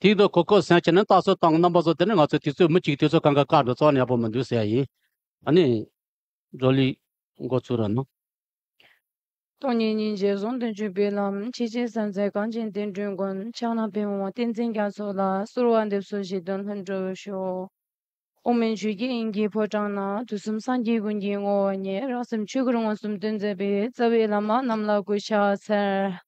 དེའི་འདུག་གོ་ཁོ་སེང་ཁྱེད་ནི་རྟགས་གསོལ་དང་རྣམ་པ་བཟོ་དེ་ནི་ང་ཚོ་དུས་ཚོད་མི་གཅིག་དུས་ཚོད་གང་གི་སྐར་འགྲོ་ཙང་ཡག་པོ་མི་འདུག་ཟེར་ཡ་ཡིན། ད་ནི་འགྲོ་ལུས་འགོ་ཚུགས་ར་ན། སྟོང་ཉིད་ཉིན་བྱེད་ཟུང་དུ་འཇུག་པའི་ལམ་ཕྱི་ཆེན་བསམ་གཟས་གངས་ཅན་བསྟན་འགྲོའི་མགོན་ཕྱག་ན་ཕེབས་འོང་བསྟན་འཛིན་རྒྱ་མཚོ་ལ་གསོལ་བ་འདེབས་སོ་ཞེས་དོན་ལྷུན་གྲུབ་ཤོག་དབུ་མའི་ཆོས་ཀྱི་དབྱིངས་ཀྱི་ཕོ་བྲང་ན་དུས་གསུམ་སངས་རྒྱས་ཀུན་གྱི་བསྔོ་བ་ཉིད་རང་སེམས་ཆོས་སྐུར་མངོན་སུམ་དོན་མཛད་པའི་རྩ་བའི་བླ་མ་རྣམས་ལ་གུས་ཕྱག་འཚལ།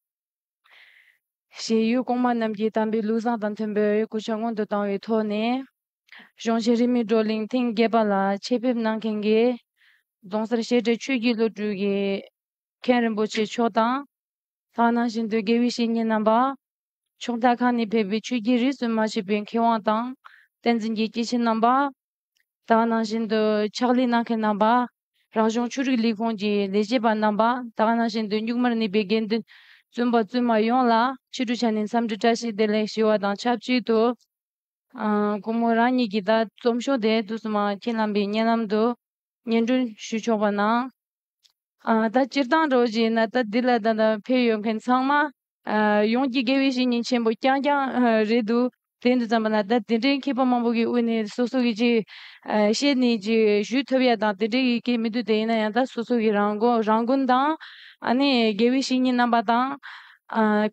གཞན་ཡུལ་གོང་མ་རྣམས་ཀྱིས་དམ་པའི་ལུགས་བཟང་དང་མཐུན་པའི་རེ་སྒུག་བྱ་སྔོན་དུ་བཏང་བའི་ཐོག་ནས། གཞུང་ཆེན་རིས་མེད་བགྲོ་གླེང་ཐེངས་བརྒྱད་པ་ལ་ཆེད་ཕེབས་གནང་མཁན་དགེ་རྫོང་སར་བཤད་གྲྭའི་ཆོས་བརྒྱུད་སློབ་ཕྲུག་གི་མཁན་རིན་པོ་ཆེ་མཆོག་དང། ལྷག་གནང་བཞིན་དུ་དགེ་བའི་བཤེས་གཉེན་རྣམ་པ། ཕྱོགས་མཐའ་ཁག་ནས་ཕེབས་པའི་ཆོས་བརྒྱུད་རིས་སུ་མ་ཆད་པའི་མཁས་དབང་དང་བསྟན་འཛིན་གྱི་སྐྱེས་ཆེན་རྣམ་པ། ལྷག་གནང་བཞིན་དུ་ཕྱག་ལས་གནང་མཁན་རྣམ་པ། རང་བྱུང་ཆོས་རིག་ལས་ཁུངས་ཀྱི་ལས་བྱེད་པ་རྣམ་པ་དག་ནང་བཞིན་དུ་མཇུག་མར་ནུས་པའི་དགེ་འདུན་བཙུན་པ་བཙུན་མ་ཡོངས་ལ་ཕྱི་དྲོ་ཆ་ནས་འཚམས་འདྲི་བཀྲ་ཤིས་བདེ་ལེགས་ཞུ་བ་དང་ཆབས་ཅིག་ཏུ། ཁོང་མོ་རང་ཉིད་ཀྱིས་ད་རྩོམ་ཤོག་དེ་དུས་སུ་མ་ཁྱེར་ལམ་པའི་བརྙན་ལམ་དུ་སྙན་སྒྲོན་ཞུ་ཆོག་པ་གནང། ད་སྤྱིར་བཏང་རོགས་བྱས་ན་ད་འདི་ལ་ད་ལྟ་ཕེབས་ཡོད་མཁན་ཚང་མ་ཡོངས་ཀྱི་དགེ་བའི་བཤེས་གཉེན་ཆེན་པོ་རྐྱང་རྐྱང་རེད་འདུག་དེང་དུ་བརྩམས་པ་ན་ད་དེ་འདྲའི་མཁས་པ་མང་པོ་གི་དབུས་ནས་སོ་སོ་གི་ཅིག་བཤད་ནས་ཅིག་ཞུས་ཐུབ་ཡ་དང་དེ་འདྲའི་ཡི་གེ་མི་འདུག་དེ་ཡིན་ན་ཡང་ད་སོ་སོ་གི་རང་མགོ་རང་རྐུན་དང་ཨ་ནི་དགེ་བའི་བཤེས་གཉེན་རྣམ་པ་དང།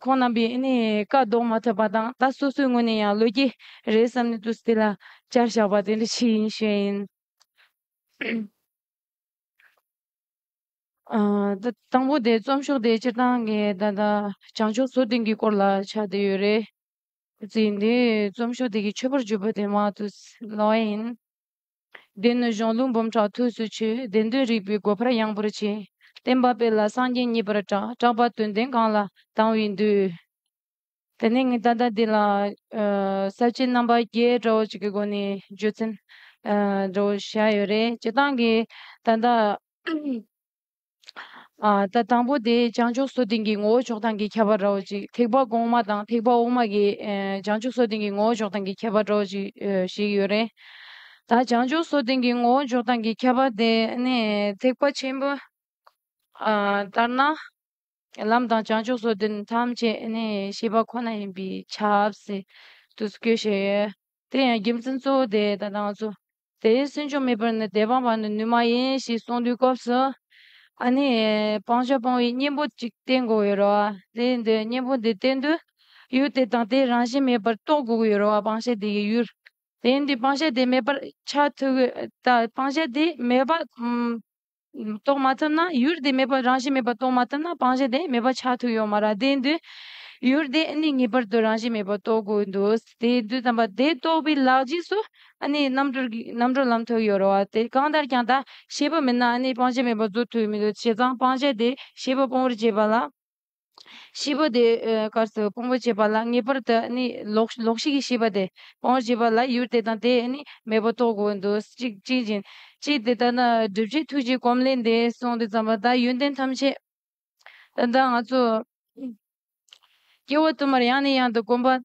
ཁོང་རྣམ་པའི་ཨེ་ནི་བཀའ་བཟློག་མ་ཐུབ་པ་དང་ད་སོ་སོའི་ངོས་ནས་ཡང་ལོས་ཀྱི་རེད་བསམ་ནས་ཏུས་དེ་ལ་བསྐྱར་བཞག་པ་དེ་འདྲ་ཅིག་ཡིན་ཞེས་ཡིན། དང་པོ་དེ་རྩོམ་ཤོག་དེའི་སྤྱིར་བཏང་གི་བདག་དང་བྱང་ཕྱོགས་སོ་ལྡན་གྱི་སྐོར་ལ་ཆ་དེ་ཡོད་རེད། ཚེ་འདིའི་རྩོམ་ཤོག་དེ་གི་མཆོད་པར་བརྗོད་པ་དེ་མང་དུ་སླ་བ་ཡིན། དེ་ནི་གཞུང་ལུགས་འབུམ་ཕྲག་ཐུགས་སུ་ཆུད་བདེན་དོན་རིག་པའི་སྒོ་འཕར་ཡངས་པོར་ཕྱེ། བསྟན་པ་སྤེལ་ལ་སངས་རྒྱས་མཉེས་པར་གྲགས་གྲགས་པ་དོན་ལྡན་གང་ལ་དང་བའི་མདོའི། དེ་ནས་ངས་ད་ལྟ་འདི་ལ་གསར་བརྗེའི་རྣམ་པ་བརྒྱའི་དགྲ་བོ་ཅིག་གི་སྒོ་ནས་རྗོད་ཚན། དགྲ་བོ་བཞི་ཡོད་རེད་སྤྱིར་བཏང་གི་ད་ལྟ། ད་དང་པོ་དེ་བྱང་ཆུབ་སོགས་དེང་གི་ངོ་བོ་ཕྱོགས་སྟངས་ཀྱིས་ཁྱབ་པར་རོ་ཅིག་ཐེག་པ་གོང་མ་དང་ཐེག་པ་དབུ་མ་གི་བྱང་ཆུབ་སོགས་དེང་གི་ངོ་བོ་ཕྱོགས་སྟངས་ཀྱིས་ཁྱབ་པར་རོ་ཅིག་ཞིག་ཡོད་རེད། ད་བྱང་ཆུབ་སོགས་དེང་གི་ངོ་བོ་ཕྱོགས་སྟངས་ཀྱིས་ཁྱབ་པ་དེ་ནི་ཐེག་པ་ཆེན་པོ་ལྟར་ན། ལམ་དང་བྱང་ཆུབ་སོགས་དེ་ཐམས་ཅད་ནི་ཤེས་པ་ཁོ་ན་ཡིན་པའི་ཆབ་སྲིད་དུ་བཀོད་བྱས་ཡོད། དེ་ཡང་རྒྱུ་མཚན་གཙོ་བོ་དེ་དང་ལྡང་ཚུལ་དེ་སུན་ཕྱུང་མེད་པར་ནི་དེ་སྤངས་པ་ནི་ནུས་མ་ཡིན་ཞེས་གསུངས་དུས་སྐབས་སུ། ཨ་ནི། སྤང་བྱ་སྤང་བའི་གཉེན་པོ་གཅིག་བསྟེན་དགོས་ཡོད་རེད། དེ་འདི་གཉེན་པོ་འདི་བསྟེན་དུས། ཡུལ་དེ་དང་དེའི་རང་བཞིན་མེད་པར་རྟོགས་དགོས་ཡོད་རེད་སྤང་བྱ་དེ་ཡི་ཡུལ། དེ་འདི་སྤང་བྱ་དེ་མེད་པར་ཆགས་ཐུབ་ཀྱི་དང་སྤང་བྱ་དེ་མེད་པ། རྟོགས་མ་ཐུབ་ན་ཡུལ་དེ་མེད་པར་རང་བཞིན་མེད་པར་རྟོགས་མ་ཐུབ་ན་སྤང་བྱ་དེ་མེད་པ་ཆགས་ཐུབ་ཡོང་མ་ར་དེ་འདུལ། ཡུལ་དེ་ནི་ངེས་པར་དུ་རང་བཞིན་མེད་པར་རྟོགས་དགོས་འདུག་དེ་འདུལ་དམ་པ་དེ་རྟོགས་པའི་ལག་རྗེས་སུ་རྣམ་གྲོལ་ལམ་ཐོབ་ཡོད་རེད་བ་དེ་གང་ལྟར་ཀྱང་ད་ཤེས་པ་མེད་ན་སྤང་བྱ་མེད་པར་རྫོགས་ཐུབ་མི་འདུག་བྱས་ཙང་སྤང་བྱ་དེ་ཤེས་པ་སྤོང་བར་བྱེད་པ་ལ། ཤེས་པ་དེ་སྐབས་སུ་སྤོང་བར་བྱེད་པ་ལ་ངེས་པར་དུ་ནི་ལོག་ཤེས་ཀྱི་ཤེས་པ་དེ་སྤང་བར་བྱེད་པ་ལ་ཡུལ་དེ་དང་དེས་ནི་མེད་པར་རྟོགས་དགོས་འདུ་ཤེས་ཅན་གྱིས་ཅི་དེ་ལྟར་ན་སྒྲུབ་བྱེད་ཐུགས་ཀྱི་གོམས་ལས་འདས་གསུངས་ཏེ་བརྩམས་པ་དག་ཡོན་ཏན་ཐམས་ཅད་ད་ལྟ་ང་ཚོས་སྐྱེ་བ་དུ་མར་ཡང་ནས་ཡང་དུ་བསྒོམ་པ་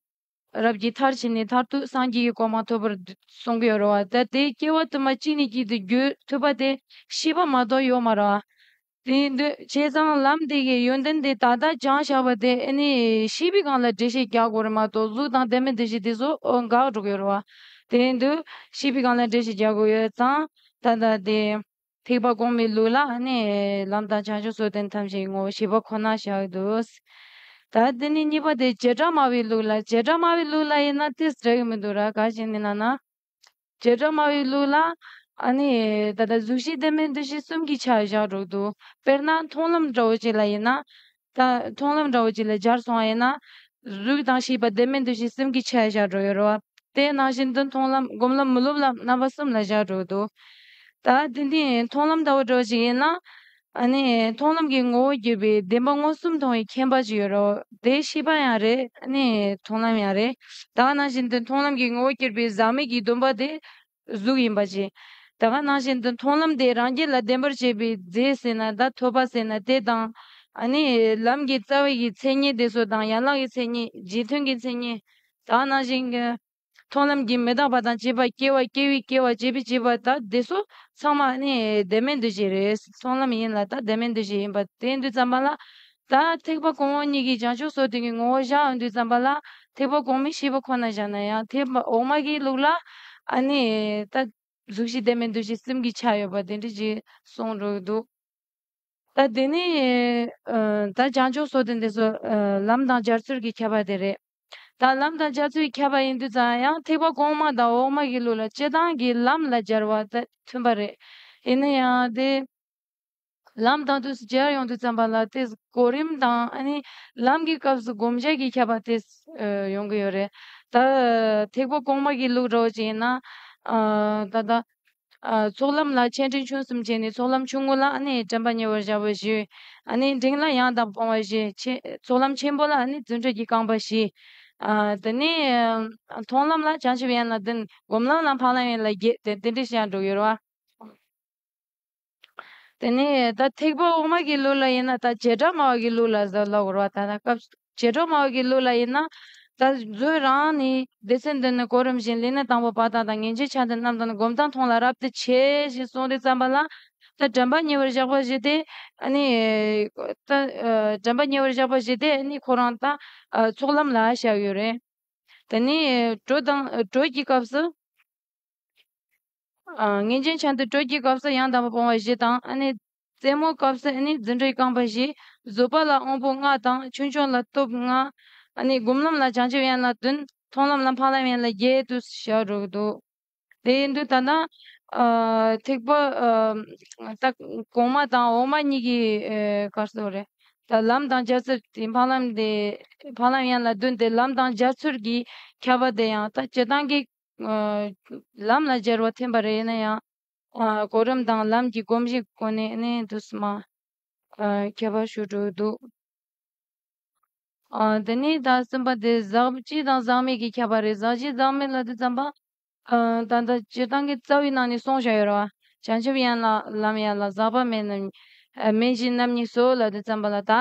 རབ་ཀྱི་མཐར་ཕྱིན་ནས་མཐར་ཐུག་སངས་རྒྱས་ཀྱི་གོ་འཕང་ཐོབ་པར་གསུངས་པའི་རོལ་བ་ད་ལྟའི་སྐྱེ་བ་དུ་མ་གཅིག་ནས་གཅིག་ཏུ་བརྒྱུད་ཐུབ་པ་དེ་ཤེས་པ་མ་གཏོགས་ཡོད་མ་རེད། དེའི་འདུས་བྱས་ཚང་ལམ་དེ་གའི་ཡོན་ཏན་དེ་ད་ལྟ་སྦྱང་བྱ་བ་དེ་ནི་ཤེས་པའི་སྒང་ལ་འགྲེལ་བཤད་རྒྱག་དགོས་རེད་མ་གཏོགས་གཟུགས་དང་ལྡན་མིན་དེ་བཞིན་དེ་ཚོ་འགག་འགྲོ་གི་རེད་བ། དེའི་འདུས་བྱས་པའི་སྒང་ལ་འགྲེལ་བཤད་རྒྱག་དགོས་ཡོད་ཙང་ད་ལྟ་དེ། ཐེག་པ་གོང་མའི་ལུགས་ལ་ནི་ལམ་དང་བྱང་ཆུབ་སོགས་དོན་ཐམས་ཅད་ངོ་བོ་ཞི་བ་ཁོ་ན་བཞག་འདུག་ད་དེ་ནས་གཉིས་པ་དེ་བྱེ་བྲག་སྨྲ་བའི་ལུགས་ལ་བྱེ་བྲག་སྨྲ་བའི་ལུགས་ལ་ཡིན་ན་དེ་ཟེར་གི་མི་འདུག་ར་ག་ཞིག་ནས་ལ་ན། རྗེས་འབྲང་སྨྲ་བའི་ལུགས་ལ། ད་ལྟ་གཟུགས་གཞི་བདེན་མིན་འདུ་ཤེས་གསུམ་གྱི་ཆ་བཞག་སྒྲོག་འདུག་དཔེར་ན་མཐོང་ལམ་འདྲ་བོ་ཅིག་ལ་ཡིན་ན། ད་མཐོང་ལམ་འདྲ་བོ་ཅིག་ལ་སྦྱར་སོང་བ་ཡིན་ན། གཟུགས་དང་ཤེས་པ་བདེན་མིན་འདུ་ཤེས་གསུམ་གྱི་ཆ་བཞག་སྒྲོག་ཡོད་རེད་བ། དེ་ནང་བཞིན་དུ་མཐོང་ལམ་སྒོམ་ལམ་མི་སློབ་ལམ་རྣམ་པ་གསུམ་ལ་བཞག་སྒྲོག་འདུག་ད། དེ་འདི་མཐོང་ལམ་འདྲ་བོ་འདྲ་བོ་ཅིག་ཡིན་ན། མཐོང་ལམ་གྱི་ངོ་བོ་བརྒྱུད་པའི་བདེན་པ་མངོན་སུམ་མཐོང་བའི་མཁྱེན་པ་ཅིག་ཡོད་རོ། དེ་ཤེས་པ་ཡང་རེད། མཐོང་ལམ་ཡང་རེད། ད་ག་ནང་བཞིན་དུ་མཐོང་ལམ་གྱི་ངོ་བོ་བརྒྱུད་པའི་ཟག་མེད་ཀྱི་སྡོམ་པ་དེ་གཟུགས་ཡིན་པ་ཅི། ད་ག་ནང་བཞིན་དུ་མཐོང་ལམ་དེ་རང་རྒྱལ་ལ་བདེན་པར་བྱེད་པའི་རྫས་ཟེར་ན་ད་ཐོས་པ་ཟེར་ན་དེ་དང། ལམ་གྱི་རྩ་བའི་ཀྱི་མཚན་ཉིད་དེ་སོ་དང་ཡན་ལག་གི་མཚན་ཉིད་རྗེས་མཐུན་གྱི་མཚན་ཉིད། ད་ག་ནང་བཞིན། མཐོང་ལམ་གྱིས་མི་རྟག་པ་དང་བཅས་པ་སྐྱེ་བ་སྐྱེ་བའི་སྐྱེ་བ་བསྐྱེད་པའི་བསྐྱེད་པ་དག་འདི་སོ། ཚང་མ་ནི་བདེན་མེད་འདུ་བྱེད་རེས་མཐོང་ལམ་ཡིན་ལ་དག་བདེན་མེད་འདུ་བྱེད་ཡིན་པ་དེ་འདུས་བརྩམས་པ་ལ། དག་ཐེག་པ་གོང་འོག་གཉིས་ཀྱི་བྱང་ཆུབ་སོགས་དོན་གྱི་ངོ་བོ་བཞག་འདུས་བརྩམས་པ་ལ། ཐེག་པ་གོང་མའི་ཤེས་པ་ཁོ་ན་བཞག་ན་ཡང་ཐེག་པ་འོག་མ་གི་ལུགས་ལ། ཨ་ནི། དག། གཟུགས་ཞེས་བདེན་མེད་འདུ་བྱེད་སེམས་ཀྱི་ཆ་ཡོད་པ་དེ་འདྲའི་རྗེས་གསུངས་རོགས་འདུག། དག་དེ་ནི། དག་བྱང་ཆུབ་སོགས་དེ་འདི་སོ། ལམ་དང་སྦྱར་ཚུལ་གྱིས་ཁྱབ་པ་དེ་རེད། དང་ལམ་དང་རྒྱ་མཚོའི་ཁྱད་པར་ཡིན་དུས་ཙམ་ཡང་ཐེག་པ་གོང་མ་དང་འོག་མ་གི་ལུགས་ལ་སྤྱི་དང་གི་ལམ་ལ་སྦྱར་བ་དེ་མཐུན་པ་རེད། ཡིན་ན་ཡང་དེ་ལམ་དང་དུས་སུ་སྦྱར་ཡོང་དུས་ཙམ་པ་ལ་དེ་གོ་རིམ་དང་ནི་ལམ་གི་སྐབས་སུ་སྒོམ་བྱེད་ཀྱི་ཁྱད་པར་དེ་ཡོང་གི་ཡོད་རེད། ད་ཐེག་པ་གོང་མ་གི་ལུགས་རོ་གཅིག་ཡིན་ན། ད་ལྟ། ཚོགས་ལམ་ལ་ཆེ་འབྲིང་ཆུང་གསུམ་བྱས་ནས་ཚོགས་ལམ་ཆུང་ངུ་ལ་དྲན་པ་ཉེ་བར་བཞག་པ་བཞི། འབྲིང་ལ་ཡང་དག་སྤོང་བ་བཞི། ཚོགས་ལམ་ཆེན་པོ་ལ་བརྫུན་སྒྲོས་ཀྱི་རྐང་པ་བཞི། དེ་ནས་མཐོང་ལམ་ལ་བྱང་ཆུབ་ཡན་ལ་བདུན། སྒོམ་ལམ་ལ་འཕགས་ལམ་ཡན་ལ་བརྒྱད་དེ་འདྲ་བཞག་འགྲོ་ཡོད་རེད། དེ་ནས་ད་ཐེག་པ་འོག་མ་གི་ལུགས་ལ་ཡིན་ན་ད་བྱེ་བྲག་སྨྲ་བ་གི་ལུགས་ལ་ཟབ་ལ་འོར་བ་ད་ལྟ་སྐབས་བྱེ་བྲག་མ་འོད་ཀྱི་གླུ་ལ་ཡིན་ན། ད་གཟོད་རང་ནི་སྡེ་ཚན་འདི་ནི་གོ་རིམ་བཞིན་ལས་ནི་དང་པོ་བ་དང་དང་ངེས་འབྱེད་ཆ་འདི་རྣམས་དང་སྒོམ་དང་མཐོང་ལ་རབ་ཏུ་ཆེ་ཞེས་གསུངས་ཏེ་བརྩམས་པ་ལ། ད་དྲན་པ་ཉེ་བར་བཞག་པ་བཞི་སྟེ། ནི། ད་དྲན་པ་ཉེ་བར་བཞག་པ་བཞི་སྟེ་ནི་ཁོ་རང་ད་ཚོགས་ལམ་ལ་བཞག་ཡོད་རེད། ད་ནི་གྲོས་དང་གྲོས་ཀྱི་སྐབས་སུ། ངེས་འབྱེད་ཆ་འདི་གྲོས་ཀྱི་སྐབས་སུ་ཡང་དང་པོ་སྤོང་བ་བཞི་དང། རྩེ་མོ་བཀབ་ས་ནི་རྫུ་འཕྲུལ་རྐང་པ་བཞི། བཟོད་པ་ལ་དབང་པོ་ལྔ་དང་ཆོས་འབྱུང་ལ་སྟོབས་ལྔ། སྒོམ་ལམ་ལ་བྱང་ཆུབ་ཡན་ལ་བདུན། མཐོང་ལམ་ལ་འཕགས་ལམ་ཡན་ལ་བརྒྱད་དུ་ཞལ་རོ་བསྡུ། དེ་ཡིན་དུ་ད་ནི་ཐེག་པ་གོང་མ་དང་འོག་མ་གཉིས་ཀྱི་བཀར་སོ་རེད། ད་ལམ་དང་བརྒྱ་རྩ་དེ་འཕགས་ལམ་དེ་འཕགས་ལམ་ཡན་ལ་བདུན་དེ་ལམ་དང་སྦྱར་ཚུལ་གྱིས་ཁྱབ་པ་དེ་ཡང་ད་སྤྱི་དང་གི་ལམ་ལ་སྦྱར་བ་ཐིམ་པ་རེད་ན་ཡང། གོ་རིམ་དང་ལམ་གྱི་སྒོམ་གཞི་གོ་གནས་ནི་དུ་སུ་མ། ཁྱད་པར་ཞུ་དྲུག་བསྡུ། འདི་ནི་ད་གསུམ་པ་སྟེ་ཟག་བཅས་དང་ཟག་མེད་ཀྱི་ཁྱད་པར་རེད་ཟག་བཅས་ཟག་མེད་ལ་དུ་བརྩམས་པ། ད་ལྟ་སྤྱིར་བཏང་གི་རྩ་བའི་ནང་ནས་གསུངས་བཞག་ཡོད་རེད། བྱང་ཆུབ་ཡན་ལག་ལམ་ཡན་ལག་ཟག་པ་མེད་རྣམ་གཉིས་མེད་བཞི་རྣམ་གཉིས་སོ་ལ་དུ་བརྩམས་པ་ལ་དག་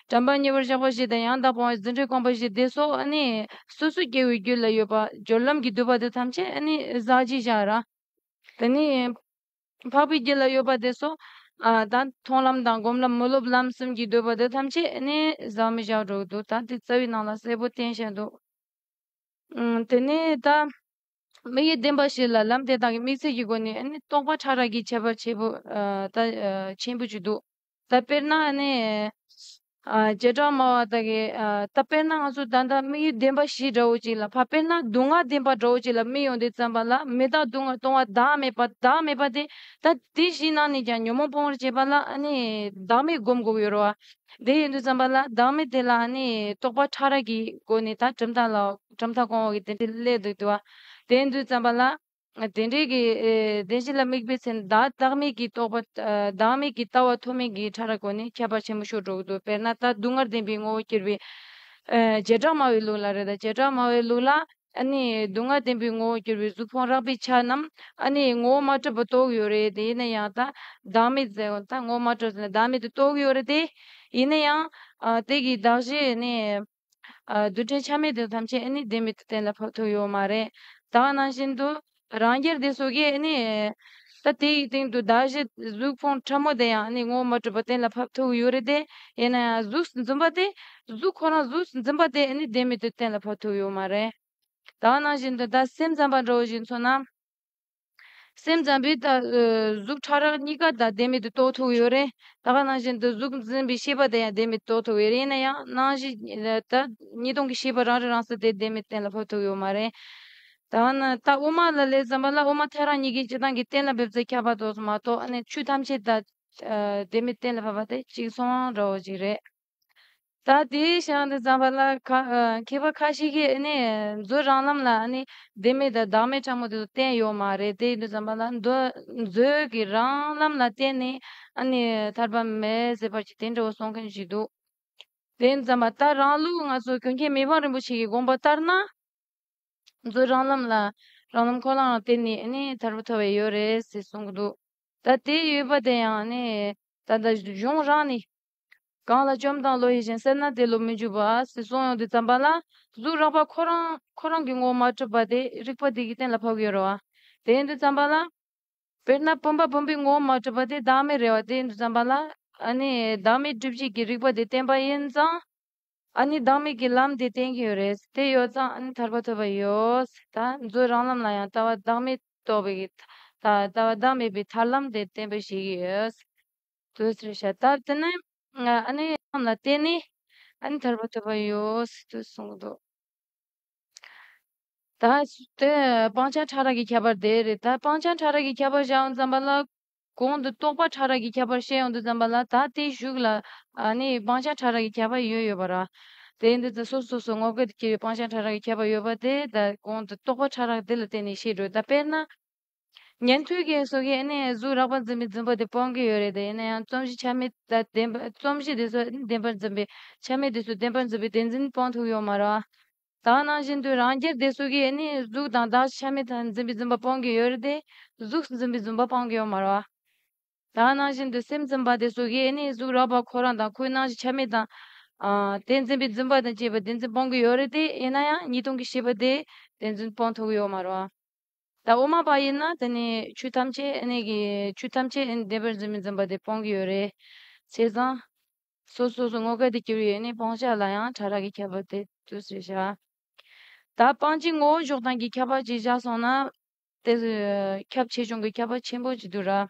དྲན་པ་ཉེ་བར་བཞག་པ་བཞི་དང་ཡང་དག་པ་བ་རྫུ་འཕྲུལ་རྐང་པ་བཞི་འདི་སོགས་ནི་སོ་སོའི་སྐྱེ་བོའི་རྒྱུད་ལ་ཡོད་པ་སྦྱོར་ལམ་གྱིས་བསྡུས་པ་དེ་ཐམས་ཅད་ནི་ཟག་བཅས་བཞག་ར། དེ་ནི་འཕགས་པའི་རྒྱུད་ལ་ཡོད་པ་དེ་སོགས་དང་མཐོང་ལམ་དང་སྒོམ་ལམ་མི་སློབ་ལམ་གསུམ་གྱིས་བསྡུས་པ་དེ་ཐམས་ཅད་ནི་ཟག་མི་བཞག་སྒྲོག་འདུག་ད་དེ་རྩ་བའི་ནང་ལ་གསལ་པོ་བསྟན་བཤད་དོ། དེ་ནས་ད་མི་ཡི་བདེན་པ་བཤད་ལ་ལམ་དེ་དག་གི་དམིགས་ཚད་ཀྱི་སྒོ་ནས་རྟོག་པ་ཕྲ་རགས་ཀྱི་ཁྱད་པར་ཆེན་པོ་བཅུ་འདུག། ད་དཔེར་ན་ནི། རྗེས་འབྲང་སྨྲ་བ་དག་གིས་ད་དཔེར་ན་ང་ཚོ་ད་ལྟ་དམིགས་ཡུལ་བདེན་པ་བཞི་འདྲ་བོ་ཅིག་ལ་ཕ་དཔེར་ན་སྡུག་བསྔལ་བདེན་པ་འདྲ་བོ་ཅིག་ལ་དམིགས་ཡོང་དུས་བརྩམས་པ་ལ་མི་བདག་སྡུག་བསྔལ་གཏོང་བ་བདག་མེད་པ་བདག་མེད་པ་དེ་ད་དེ་བཞི་ནང་ནས་ཀྱང་ཉོན་མོངས་སྤོང་བར་བྱེད་པ་ལ་ནི་བདག་མེད་བསྒོམ་དགོས་ཀྱི་རོ། དེ་ཡོང་དུས་བརྩམས་པ་ལ་བདག་མེད་དེ་ལ་ནི་རྟོག་པ་ཕྲ་རགས་ཀྱི་སྒོ་ནས་ད་གྲུབ་མཐའ་ལ་གྲུབ་མཐའ་གོང་འོག་གི་དེ་འདྲའི་སླད་དུ་བསྡུ་བ། དེ་ཡོང་དུས་བརྩམས་པ་ལ། བདེན་འབྲས་ཀྱི་བདེན་བཞི་ལ་དམིགས་པའི་ཚེ་བདག་བདག་མེད་ཀྱི་རྟོག་པ་བདག་མེད་ཀྱི་ལྟ་བ་མཐོ་དམན་གྱི་ཕྲ་རགས་གོ་ནས་ཁྱད་པར་ཆེན་པོ་ཤོར་འགྲོ་གི་འདུག་དཔེར་ན་ལྟ་སྡུག་བསྔལ་བདེན་པའི་ངོ་བོ་གྱུར་པའི། བྱེ་བྲག་སྨྲ་བའི་ལུགས་ལ་རེ་ད་བྱེ་བྲག་སྨྲ་བའི་ལུགས་ལ། སྡུག་བསྔལ་བདེན་པའི་ངོ་བོ་གྱུར་པའི་གཟུགས་ཕུང་རགས་པའི་ཆ་རྣམས། ངོ་བོ་མ་གྲུབ་པར་རྟོགས་ཡོད་རེད་དེ་ཡིན་ན་ཡང་ལྟ་བདག་མེད་ཟེར་ལྟ་ངོ་བོ་མ་གྲུབ་ཟེར་ན་བདག་མེད་དུ་རྟོགས་ཡོད་རེད་དེ། ཡིན་ན་ཡང། དེ་གའི་བདག་གཞན་ནི། རྡུལ་ཕྲན་ཆ་མེད་དེ་ཐམས་ཅད་ཨེ་ནི་བདེན་མེད་དུ་གཏན་ལ་ཕབ་ཐུབ་ཡོད་མ་རེད། ད་ག་ནང་བཞིན་དུ་རང་རྒྱལ་དེ་སོ་གས་ཨེ་ནི། ད་དེ་ཡི་སྟེང་དུ་བདག་བཞི་གཟུགས་ཕུང་ཕྲ་མོ་དེ་ཡང་ཨེ་ནི་ངོ་བོ་མ་གྲུབ་པ་གཏན་ལ་ཕབ་ཐུབ་ཡོད་རེད་དེ། ཡིན་ན་ཡང་གཟུགས་སུ་འཛིན་པ་དེ། གཟུགས་ཁོ་རང་གཟུགས་སུ་འཛིན་པ་དེ་ཨེ་ནི་བདེན་མེད་དུ་གཏན་ལ་ཕབ་ཐུབ་ཡོད་མ་རེད། ད་ག་ནང་བཞིན་དུ་ད་སེམས་ཙམ་པ་འདྲ་བོ་ཞིག་མཚོན་ན། སེམས་ཙམ་པས་ད་གཟུགས་ཕྲ་རགས་གཉིས་ཀ་དང་བདེན་མེད་དུ་རྟོགས་ཐུབ་ཡོད་རེད་ད་ག་ནང་བཞིན་དུ་གཟུགས་འཛིན་པའི་ཤེས་པ་དེ་ཡང་བདེན་མེད་དུ་རྟོགས་ཐུབ་ཡོད་རེད་ཡིན་ན་ཡང་ནང་བཞིན་ད་གཉིས་སྟོང་གི་ཤེས་པ་རང་རིག་རང་གསལ་དེ་བདེན་མེད་གཏན་ལ་ཕབ་ཐུབ་ཡོད་མ་རེད། ད་ནི་ད་དབུ་མ་ལ་ལས་ཙམ་པ་ལ་དབུ་མ་ཐལ་རང་གཉིས་ཀའི་སྤྱི་དང་གི་གཏན་ལ་འབེབས་ཚད་ཁྱབ་པ་དོགས་སུ་མ་གཏོགས་ཆོས་ཐམས་ཅད་ད་བདེན་མེད་གཏན་ལ་ཕབ་པ་དེ་གཅིག་མཚུངས་རང་རོ་ཅིག་རེད། ད་དེ་ཞག་འདི་བརྩམས་པ་ལ་མཁས་པ་ཁ་ཤས་ཀྱིས་མཛོད་རང་ལམ་ལ་བདེན་མེད་དང་བདག་མེད་ཕྲ་མོ་དེ་ཚོ་བསྟན་ཡོད་མ་རེད་དེ་འདི་བརྩམས་པ་ལ་མཛོད་ཀྱི་རང་ལམ་ལ་བརྟེན་ནས་ཐར་པ་མེད་ཟེར་བར་གྱི་དེ་འདྲ་བོ་གསུང་མཁན་ཞིག་འདུག་དེ་བརྩམས་པ་ལྟར་རང་ལུགས་ང་ཚོ་གུས་མཁྱེན་མི་ཕམ་རིན་པོ་ཆེ་ཡི་དགོངས་པ་ལྟར་ན་མཛོད་རང་ལམ་ལ་རང་ལམ་ཁོ་ནར་བརྟེན་ནས་ཐར་པ་ཐོབ་པ་ཡོད་རེད་ཟེར་གསུང་གི་འདུག་ད་དེ་ཡོད་པ་དེ་ཡང་ད་ལྟ་གཞུང་རང་ནས་གང་ལ་བཅོམ་དང་བློ་ཡིད་བཞིན་སེར་སྣ་དེ་ལོ་མི་འཇུག་པར་སྲིད་སྲོང་ཡོང་དུས་བརྩམས་པ་ལ་གཟུགས་རགས་པ་ཁོ་རང་ཁོ་རང་གི་ངོ་མ་གྲུབ་པ་དེ་རིག་པ་དེ་གིས་གཏན་ལ་ཕབ་ཡོད་རེད་བ། དེ་ཡིན་དུས་བརྩམས་པ་ལ། དཔེར་ན་བུམ་པ་བུམ་པའི་ངོ་མ་གྲུབ་པ་དེ་བདག་མེད་རེད་བ་དེ་ཡིན་དུས་བརྩམས་པ་ལ། ཨ་ནི་བདག་མེད་སྒྲིབ་བྱེད་ཀྱི་རིག་པ་དེ་བསྟན་པ་ཡིན་ཙང། ཨ་ནི་བདག་མེད་ཀྱི་ལམ་དེ་བསྟན་གྱི་ཡོད་རེད་དེ་ཡོད་ཙང་ཨ་ནི་ཐར་པ་ཐོབ་པ་ཡོད་ད་གཟོད་རང་ལམ་ལ་ཡང་ལྟ་བ་བདག་མེད་རྟོགས་པའི་ལྟ་བ་བདག་མེད་པའི་ཐར་ལམ་དེ་བསྟན་པ་ཞིག་ཡོད། དུས་རེ་བྱ་ད་དེ་ནི་ཨ་ནི་རྣམས་ལ་བརྟེན་ནས་ཨ་ནི་ཐར་པ་ཐོབ་པ་ཡོད་སྲིད་དུ་གསུངས་སོ། ད་དེ་སྤང་བྱ་ཕྲ་རགས་ཀྱི་ཁྱད་པར་དེ་རེད་ད་སྤང་བྱ་ཕྲ་རགས་ཀྱི་ཁྱད་པར་བྱའོ་བརྩམས་པ་ལ། གོང་དུ་རྟོག་པ་ཕྲ་རགས་ཀྱི་ཁྱད་པར་བཤད་ཡོང་དུ་བརྩམས་པ་ལ་ད་དེ་བཞུགས་ལ་ཨ་ནི་སྤང་བྱ་ཕྲ་རགས་ཀྱི་ཁྱད་པར་ཡོད་ཡོད་པ་ར། དེ་འདི་ད་སོ་སོ་སོ་ངོ་སྐལ་དུ་སྐྱེ་བའི་སྤང་བྱ་ཕྲ་རགས་ཀྱི་ཁྱད་པར་ཡོད་པ་དེ་ད་གོང་དུ་རྟོག་པ་ཕྲ་རགས་དེ་ལ་བརྟེན་ནས་བཤད་དགྲོས་ད་དཔེར་ན། ཉན་ཐོས་ཀྱི་སོ་གས་ཨེ་ནས་གཟུགས་རགས་པར་འཛིན་པའི་འཛིན་པ་དེ་སྤོང་གི་ཡོད་རེད་དེ་ཡིན་ན་ཡང་རྩོམ་གཞི་ཆ་མེད་ད་བདེན་པ་རྩོམ་གཞི་དེ་ཚོ་བདེན་པར་འཛིན་པའི་ཆ་མེད་དེ་ཚོ་བདེན་པར་འཛིན་པའི་བདེན་འཛིན་སྤོང་ཐུབ་ཡོད་མ་རེད། དག་སྣང་བཞིན་དུ་རང་རྒྱལ་དེ་སོ་གས་ཨེ་ནས་གཟུགས་དང་དག་ཆ་མེད་དང་འཛིན་པའི་འཛིན་པ་སྤོང་གི་ཡོད་རེད་དེ་གཟུགས་འཛིན་པའི་འཛིན་པ་སྤོང་གི་ཡོད་མ་རེད། དག་སྣང་བཞིན་དུ་སེམས་འཛིན་པ་དེ་སོ་གས་ཨེ་ནས་གཟུགས་རགས་པར་ཁོ་རང་དང་ཁོའི་སྣང་གཞི་ཆ་མེད་དང། དེ་འཛིན་པའི་འཛིན་པ་དང་བཅས་པའི་བདེན་འཛིན་སྤོང་གི་ཡོད་རེད་དེ་ཡིན་ན་ཡང་གཉིས་སྟོང་གི་ཤེས་པ་དེས་བདེན་འཛིན་སྤོང་ཐུབ་ཡོད་མ་རེད། ད་འོ་མ་པ་ཡིན་ན་དེ་ནི་ཆོས་ཐམས་ཅད་གནས་ཀྱི་ཆོས་ཐམས་ཅད་འདས་པར་འཛིན་མི་འཛིན་པ་དེ་སྤང་གི་ཡོད་རེད། བྱས་ཙང། སོ་སོ་སོ་ངོ་སྐལ་དུ་གྱུར་ཡོད་ནི་སྤང་བྱ་ལ་ཡང་ཕྲ་རགས་ཀྱི་ཁྱད་པར་དེ་དུས་སུ་བཞག། ད་སྤང་བྱའི་ངོ་བོ་ཕྱོགས་དང་གི་ཁྱད་པར་གྱིས་བཞག་སོང་ན། དེ་སུ་ཁྱབ་ཆེ་ཆུང་གི་ཁྱད་པར་ཆེན་པོ་གཅིག་ཏུ་རག།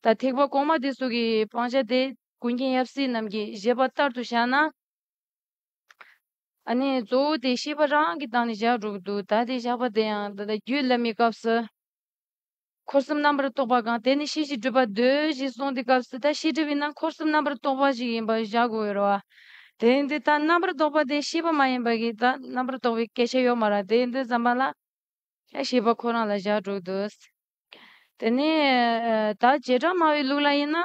ད་ཐེག་པ་གོང་མ་དེ་སུ་གི་སྤང་བྱ་དེ་ཀུན་མཁྱེན་ཡབ་སྲས་རྣམས་ཀྱིས་བཞེད་པ་ལྟར་དུ་བཞག་ན། ཨ་ནི་གཙོ་བོ་དེ་ཤེས་པ་རང་གིས་བཏང་ནས་བཞག་འགྲོ་གི་འདུག་ད་དེ་བཞག་པ་དེ་ཡང་ད་ལྟ་རྒྱུད་བླ་མའི་སྐབས་སུ། འཁོར་གསུམ་རྣམ་པར་རྟོག་པ་གང་དེ་ནི་ཤེས་བྱའི་སྤྲོས་པ་ཟློས་ཞེས་གསུངས་དེ་སྐབས་སུ་ད་ཤེས་སྤྲོས་པའི་ནང་འཁོར་གསུམ་རྣམ་པར་རྟོག་པ་ཞིག་ཡིན་པར་བཞག་དགོས་འོས་རོ། དེ་འདི་ལྟར་རྣམ་པར་རྟོག་པ་དེ་ཤེས་པ་མ་ཡིན་པ་གིས་ད་རྣམ་པར་རྟོག་པའི་སྐད་ཆ་ཡོད་མ་ར་དེ་འདི་ཙམ་པ་ལ། ཡང་ཤེས་པ་ཁོ་རང་ལ་བཞག་འགྲོ་གི་འདུག། དེ་ནས་ད་བྱེ་བྲག་སྨྲ་བའི་ལུགས་ལ་ཡིན་ན།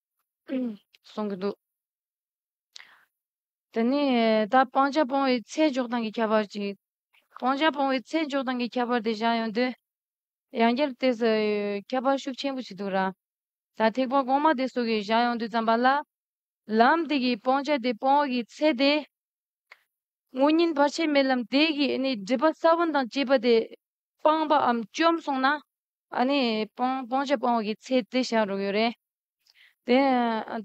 གསུང་གི་འདུག་དེ་ནས་ད་སྤང་བྱ་སྤོང་བའི་ཚེ་འཇོག་སྟངས་ཀྱི་ཁྱད་པར་གྱིས་སྤང་བྱ་སྤོང་བའི་ཚེ་འཇོག་སྟངས་ཀྱི་ཁྱད་པར་དེ་བཞག་ཡོང་དུས་ཡང་བསྐྱར་དེ་སུ་ཁྱད་པར་ཤུགས་ཆེན་པོ་ཞིག་འདུག་ར་ད་ཐེག་པ་གོང་མ་དེ་སུ་གིས་བཞག་ཡོང་དུས་བརྩམས་པ་ལ་ལམ་དེ་གིས་སྤང་བྱ་དེ་སྤོང་བ་གི་ཚེ་དེ་དངོས་ཉིན་བར་ཆད་མེད་ལམ་དེ་གིས་ནི་སྒྲིབ་པ་ས་བོན་དང་བཅས་པ་དེ་སྤངས་པའམ་བཅོམ་སོང་ན་ནི་སྤང་བྱ་སྤོང་བ་གི་ཚེ་དེ་བཞག་རོགས་ཡོད་རེད། ད་བྱེ་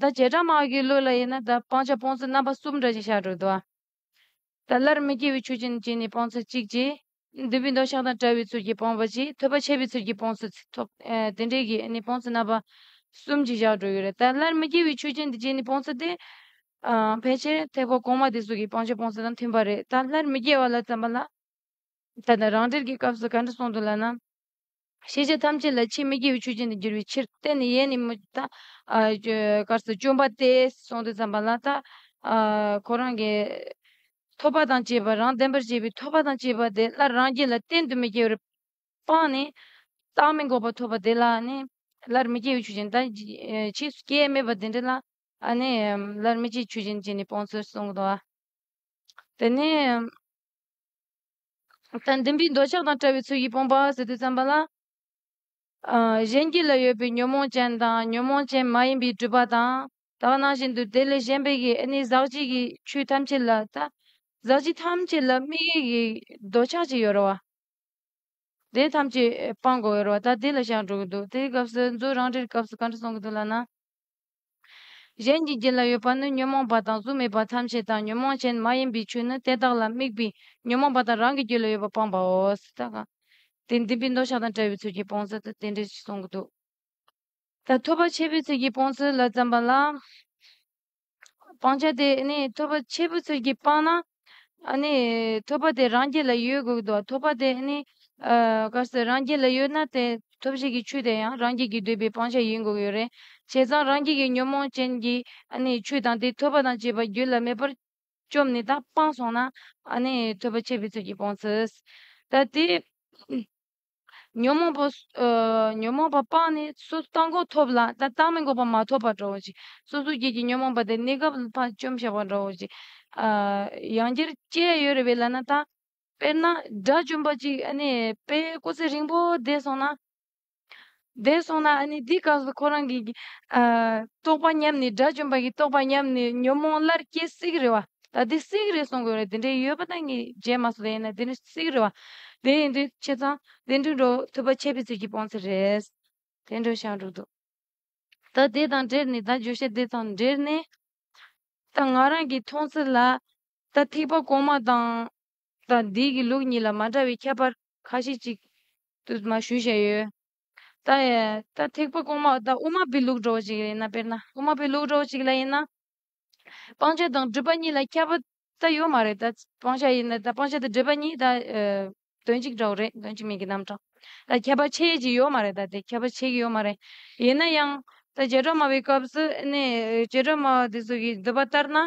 བྲག་དམག་གི་བློས་ལ་ཡིན་ན་ད་སྤང་བྱ་སྤོང་ཚུལ་རྣམ་པ་གསུམ་འདྲ་ཞིག་ཤར་འགྲོ་འདུག་ཨ། ད་སླར་མི་སྐྱེ་བའི་ཆོས་ཅན་གྱི་ནི་སྤང་ཚུལ་གཅིག་ཅེས། འདུས་པའི་མདོ་ཤ་དང་བྲལ་བའི་ཚུལ་གྱིས་སྤངས་པ་ཅིག་ཐོས་པ་ཆད་པའི་ཚུལ་གྱིས་སྤོང་ཚུལ་ཐོབ། དེ་འདྲའི་གྱི་ནི་སྤོང་ཚུལ་རྣམ་པ་གསུམ་ཅིག་བཞག་འགྲོ་ཡི་རེད། ད་སླར་མི་སྐྱེ་བའི་ཆོས་ཅན་དེ་བརྒྱད་ནི་སྤོང་ཚུལ་ཏེ། ཕལ་ཆེར་ཐེག་པ་གོང་མ་དེ་གསུང་གི་སྤང་བྱ་སྤོང་ཚུལ་དང་མཐུན་པ་རེད། ད་སླར་མི་སྐྱེ་བ་ལ་བརྩམས་པ་ལ། ད་ནི་རང་འགྲེལ་གྱི་སྐབས་སུ་ག་འདྲ་གསུངས་འདུག་ལ་ན། ཤེས་བྱ་ཐམས་ཅད་ལ་ཕྱིས་མི་སྐྱེ་བའི་ཆོས་ཅན་དུ་འགྱུར་བའི་ཕྱིར་རྟེན་ནི་ཡས་ནི་མོ་དཀར་སོ་བཅོམ་པ་སྟེ་གསུངས་ཏེ་བརྩམས་པ་ལ་ད་ཁོ་རང་གི་ཐོབ་པ་དང་བཅས་པ་རང་བདེན་པར་བྱེད་པའི་ཐོབ་པ་དང་བཅས་པ་དེ་སླར་རང་རྒྱུད་ལ་གཏན་དུ་མི་སྐྱེ་བར་སྤངས་ནས། རྟག་མི་འགོག་པ་ཐོབ་པ་དེ་ལ་ནི་སླར་མི་སྐྱེ་བའི་ཆོས་ཅན་དང་ཕྱིས་སུ་སྐྱེ་ཡས་མེད་པ་དེ་འདྲ་ལ་ནི་སླར་མི་སྐྱེ་བའི་ཆོས་ཅན་བྱས་ནས་སྤངས་ཚུལ་གསུངས་སོ། དེ་ནས། དང་ལྡན་པའི་འདོད་ཆགས་དང་བྲལ་བའི་ཚུལ་གྱིས་སྤངས་པ་ཟེར་དུས་བརྩམས་པ་ལ། གཞན་གྱི་ལ་ཡོད་པའི་ཉོན་མོངས་ཅན་དང་ཉོན་མོངས་ཅན་མ་ཡིན་པའི་སྤྲུལ་པ་དང་དག་སྣང་བཞིན་དུ་དེ་ལས་གཞན་པའི་ཡེ་ནས་ཟག་བཅས་ཀྱི་ཆོས་ཐམས་ཅད་ལ་དང། ཟག་བཅས་ཐམས་ཅད་ལ་དམིགས་ཡུལ་གྱི་འདོད་ཆགས་ཅི་ཡོད་རེ་བ་དེ་ཐམས་ཅད་སྤངས་དགོས་རེ་བ་ད་དེ་ལ་བཞག་འགྲོ་གི་འདུག་དེའི་སྐབས་སུ་མཛོད་རང་རེར་སྐབས་སུ་གང་འདྲ་གསུང་གི་འདུག་ལགས་ན། གཞན་གྱི་རྒྱུད་ལ་ཡོད་པ་ནི་ཉོན་མོངས་པ་དང་གཟུགས་མེད་པ་ཐམས་ཅད་དང་ཉོན་མོངས་ཅན་མ་ཡིན་པའི་ཆོས་ནི་དེ་དག་ལ་དམིགས་པའི་ཉོན་མོངས་པ་དང་རང་གི་རྒྱུད་ལ་ཡོད་པ་སྤངས་པའོ། དེ་འདུན་པའི་འདོད་ཆགས་དང་བྲལ་བའི་ཚུལ་གྱིས་སྤོང་ཟེར་ཏེ་དེ་འདྲའི་ཞེས་གསུངས་འདུག། ད་ཐོས་པ་ཆེན་པོའི་ཚུལ་གྱིས་སྤོང་ཚུལ་ལ་བརྩམས་པ་ལ། སྤང་བྱ་དེ་ནི་ཐོས་པ་ཆེན་པོའི་ཚུལ་གྱིས་སྤངས་ན། ཨ་ནི། ཐོབ་པ་དེ་རང་རྒྱལ་ལ་ཡོད་དགོས་ཀྱི་འདུག་ཐོབ་པ་དེ་ནི། ག་སྲིད་རང་རྒྱལ་ལ་ཡོད་ན་དེ་ཐོབ་བྱེད་ཀྱི་ཆོས་དེ་ཡང་རང་རྒྱལ་གྱི་འདོད་པའི་སྤང་བྱ་ཡིན་དགོས་ཀྱི་ཡོད་རེད། བྱས་ཙང་རང་རྒྱལ་གྱི་ཉོན་མོངས་ཅན་གྱི་ཨ་ནི་ཆོས་དང་དེ་ཐོབ་པ་དང་བཅས་པ་རྒྱུད་ལ་མེད་པར་བཅོམ་ནས་དང་སྤངས་སོང་ན་ཨ་ནི་ཐོབ་པ་ཆད་པའི་ཚུལ་གྱིས་སྤོང་ཚུལ། ད་དེ། ཉོན་མོངས་པ་ཉོན་མོངས་པ་སྤངས་ནས་སོ་སོ་རྟག་འགོག་ཐོབ་ལ་ད་རྟག་མི་འགོག་པ་མ་ཐོབ་པར་འགྲོའོ་ཞེས་སོ་སོའི་རྒྱུད་ཀྱི་ཉོན་མོངས་པ་དེ་གནས་སྐབས་ལ་བར་བཅོམ་བཞག་པར་འགྲོའོ་ཞེས། ཡང་འདིར་སྐྱེ་བ་ཡོད་རེ་བས་ལ་ན་ད། དཔེར་ན་དགྲ་བཅོམ་པ་ཅིག་ཨ་ནི་དཔེའི་སྐུ་ཚེ་རིང་པོ་འདས་སོང་ན། འདས་སོང་ན་ཨ་ནི་འདི་ག་སོ་ཁོ་རང་གི། རྟོགས་པ་ཉམས་ནས་དགྲ་བཅོམ་པ་གི་རྟོགས་པ་ཉམས་ནས་ཉོན་མོངས་སླར་སྐྱེ་སིག་རེ་བ། ད་དེ་སིག་རེ་གསུངས་དགོས་རེད་དེ་འདྲའི་ཡོད་པ་ད་ངས་བརྗེད་མ་སོང་དེ་ཡིན་ན་དེ་ནི་སིག་རེ་བ། དེ་ཡིན་དུས་ཁྱེད་ཚང་དེ་འདྲའི་འགྲོ་ཐུབ་པ་ཁྱེད་ཕི་ཚེ་ཀྱི་སྤོང་ཚེ་རེད། དེ་འདྲའི་ཞག་འགྲོ་འདུག་ད་དེ་དང་འབྲེལ་ནས་ད་བརྗོད་བྱ་དེ་དང་འབྲེལ་ནས། ད་ང་རང་གི་མཐོང་ཚུལ་ལ། ད་ཐིག་པ་གོང་མ་དང། ད་འདི་གི་ལུགས་གཉིས་ལ་མ་འདྲ་བའི་ཁྱད་པར། ཁ་ཤས་ཅིག་ཏུ་མ་ཞུས་བྱས་ཡོད། ད་ལྟ་ཐེག་པ་གོང་མ་ཨོ་རྟ་དབུ་མ་པའི་ལུགས་འགྲོ་བ་ཅིག་ལ་ཡིན་ན་དཔེར་ན་དབུ་མ་པའི་ལུགས་འགྲོ་བ་ཅིག་ལ་ཡིན་ན། སྤང་བྱ་དང་སྒྲིབ་པ་གཉིས་ལ་ཁྱབ་པ་ད་ཡོད་མ་རེད་ད། སྤང་བྱ་ཡིན་ན་ད་སྤང་བྱ་དང་སྒྲིབ་པ་གཉིས་ད་དོན་གཅིག་འདྲ་བོ་རེད་དོན་གཅིག་མིན་གྱི་རྣམ་གྲངས་ད་ཁྱབ་པ་ཆེ་གི་ཡོད་མ་རེད་ད་དེ་ཁྱབ་པ་ཆེ་གི་ཡོད་མ་རེད། ཡིན་ན་ཡང་ད་བྱེ་བྲག་སྨྲ་བའི་སྐབས་སུ་ནི་བྱེ་བྲག་སྨྲ་བ་དེ་ཚོ་གིས་འདོད་པ་ལྟར་ན།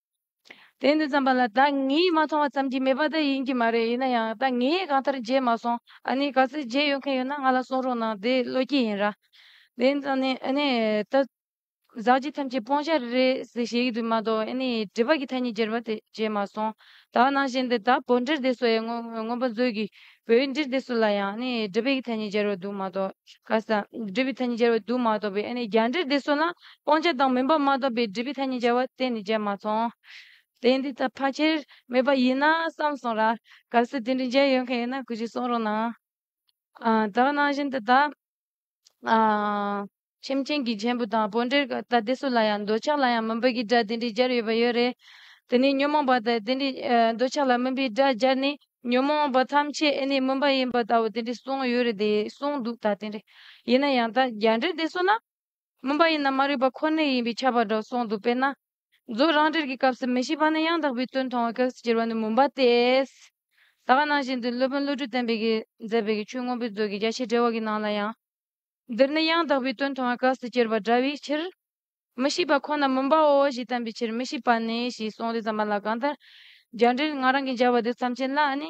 དེ་འདི་ཙམ་པ་ལ་ད་ངས་མ་མཐོང་བ་ཙམ་གྱིས་མེད་པ་དེ་ཡིན་གྱི་མ་རེད་ཡིན་ན་ཡང་ད་ངས་གང་ལྟར་མཇལ་མ་སོང་ཨ་ནི་ག་ཚོད་མཇལ་ཡོད་མཁན་ཡོད་ན་ང་ལ་གསུང་རོགས་གནང་དེ་བློ་སྐྱེད་ཡིན་ར། དེ་འདི་ཙམ་ནས་ཨ་ནི་ད་ཟག་བཅས་ཐམས་ཅད་སྤོང་བྱ་རེད་ཟེར་བཤད་ཀྱི་འདུག་མ་གཏོགས་ཨ་ནི་དྲི་བ་གི་ཐ་སྙད་སྦྱར་བ་དེ་མཇལ་མ་སོང་ད་ནང་བཞིན་དུ་ད་བོད་འདྲེར་དེ་སོ་ཡའི་དངོས་པོ་མཛོད་ཀྱི་བོད་འདིར་དེ་སུ་ལ་ཡང་ནི་སྒྲུབ་པའི་ཐ་སྙད་སྦྱར་བ་འདུག་མ་གཏོགས་ག་ས་སྒྲུབ་པའི་ཐ་སྙད་སྦྱར་བ་འདུག་མ་གཏོགས་པའི་རྒྱ་འདྲེར་དེ་སུ་ལ་སྤང་བྱ་དང་མིན་པ་མ་གཏོགས་པའི་སྒྲུབ་པའི་ཐ་སྙད་སྦྱར་བ་གཏན་ནས་མཇལ་མ་སོང། དེ་འདི་ལྟར་ཕར་ཆེར་མེད་པ་ཡིན་ན་བསམ་སོང་ར། ག་ས་དེ་འདྲའི་མཇལ་ཡོད་མཁན་ཡོད་ན་གུས་ཀྱིས་གསུང་རོགས་གནང། དག་སྣང་བཞིན་དུ་དག། སེམས་ཅན་གྱི་མཆན་བུ་དང་པོ་འདྲེར་ད་ལྟའི་སུ་ལ་ཡང་འདོད་ཆགས་ལ་ཡང་མུན་པའི་སྒྲ་དེ་འདྲའི་སྦྱར་ཡོད་པ་ཡོད་རེད། དེ་ནི་ཉོན་མོངས་པ་དང་དེ་འདྲའི་འདོད་ཆགས་ལ་མུན་པའི་སྒྲ་སྦྱར་ནས་ཉོན་མོངས་པ་ཐམས་ཅད་ཨེ་ནི་མུན་པ་ཡིན་པ་ལྟ་བུ་དེ་འདྲའི་གསུངས་ཡོད་རེད་དེ་གསུངས་འདུག་ད་དེ་འདྲའི་ཡིན་ན་ཡང་ད་རྒྱ་འདྲེ་འདི་སུ་ན་མུན་པ་ཡིན་ན་མ་རིག་པ་ཁོ་ནའི་ཡིན་པའི་ཁྱབ་པ་འདྲ་བ་གསུངས་འདུག་དཔེར་ན། རྫོགས་རང་འགྲེལ་གྱི་སྐབས་སུ་མི་ཤེས་པ་ནི་ཡང་དག་པའི་དོན་མཐོང་བའི་གེགས་སུ་གྱུར་པ་ནི་མུན་པ་སྟེ། ད་ག་ནང་བཞིན་དུ་སློབ་དཔོན་བློ་གྲོས་བརྟན་པོས་མཛད་པའི་ཆོས་མངོན་པའི་མཛོད་ཀྱི་རྒྱ་ཆེ་འགྲེལ་བ་གྱི་ནང་ལ་ཡང། འདིར་ནི་ཡང་དག་པའི་དོན་མཐོང་བའི་གེགས་སུ་གྱུར་པ་འདྲ་བའི་ཕྱིར། མི་ཤེས་པ་ཁོ་ན་མུན་པའོ་ཞེས་བསྟན་པའི་ཕྱིར་མི་ཤེས་པ་ནི་ཞེས་གསུངས་ཏེ་བརྩམས་པ་ལ་གང་ལྟར་རྒྱ་འགྲེལ་ང་རང་གིས་སྦྱར་བ་དེ་མཚམས་ཅན་ལ་ནི་